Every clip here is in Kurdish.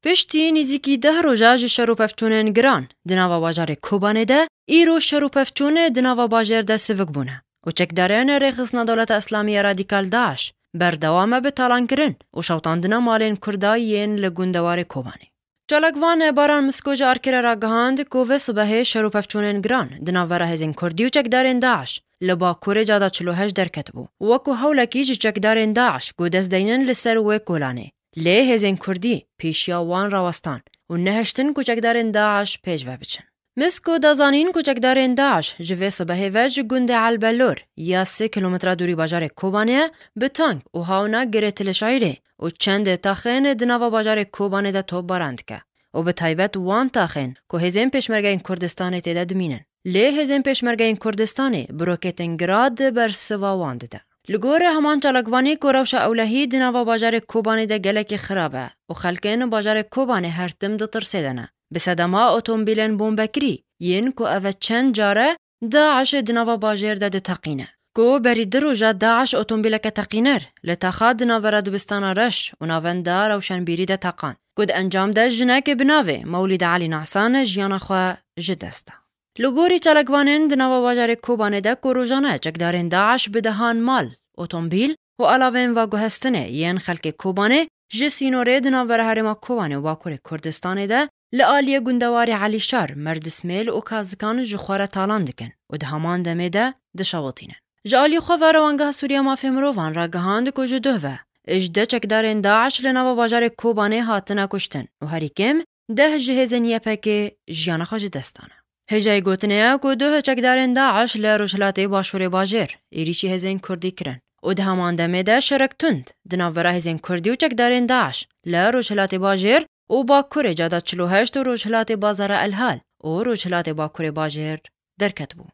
Piştî nîzîkî deh roja ji şer û pevçûnên giran di nava bajarê Kobanê de, îro şer û pevçûn di nava bajêr de sivik bûne û çekdarên Rêxistina Dewleta Îslamî ya Radîkal DAIŞ berdewam e bi talankirin û şewitandina malên Kurda yên li gundewarê Kobanê. Çalakvan Baran Misko ji ARK'ê re ragihand ku vê sibehê şer û pevçûnên giran di navbera hêzên Kurdî û çekdarên DAIŞ li Bakurê Cada Çil û Heşt derketibû û wek ku hewlekî ji çekdarên DAIŞ ku dest deynin li ser wê kolanê Lê hêzên kurdî pêşiya wan rawestan û nehiştin ku çekdarên DAIŞ pêş ve biçin. Misko da zanîn ku çekdarên DAIŞ ji vê sibehê ve ji gundê El Bellor ya sê kîlometre dûrî bajarê Kobanê ye bi tank û hawna girê Tilişaîrê û çendê taxên di nava bajarê Kobanê de topbaran dike û bi taybet wan taxên ku hêzên Pêşmergeyên Kurdistanê tê de dimînin. Lê Hêzên Pêşmergeyên Kurdistanê bi roketên Grad bersiva wan dide. Li gorî heman çalakvanî ku rewşa ewlehî di nava bajarê Kobanê de gelekî xirab e û xelkên bajarê Kobanê her tim di tirsê de ne. Bi sedema otomobîlên bombekirî yên ku ev e çend car e DAIŞ'ê di nava bajêr de diteqîne. Ku berî di roja DAIŞ otomobîleke teqîner li Taxa di navbera dibistana reş û navenda rewşenbîrî de teqan. Ku di encam de jinekê bi navê Mewlîd Elî Nahsan jiyana xwe ji dest da. Li gorî çalakvanên di nava bajarê Kobanê de ku rojane çekdarên DAIŞ bi dehan mal, otomobîl û alavên vaguhestinê yên xelkê Kobanê Ji sînorê di navbera herêma Kobanê û Bakurê Kurdistanê de li aliyê gundewarê Elîşar, Merdismêl û Kazikan ji xwe re talan dikin û di heman demê de dişewitînin. Ji aliyê xwe ve Rewangeha Sûrî ya Mafê Mirovan ragihand ku ji duh ve ji deh çekdarên DAIŞ li nava bajarê Kobanê hatine kuştin û herî kêm Deh ji hêzên YPGê jiyana xwe ji dest dane. Hêjayî gotinê ye ku duh çekdarên DAIŞ li Rojhilatê Başûrê bajêr êrîşî hêzên Kurdî kirin û di heman demê de şerek tund di navbera hêzên Kurdî û çekdarên DAIŞ li Rojhilatê Bajêr û Bakurê cada çil û heşt û Rojhilatê Bazara Elhal û Rojhilatê Bakurê Bajêr derketibû.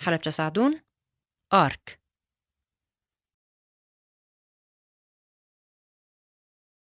Helepçe Sadûn, ark.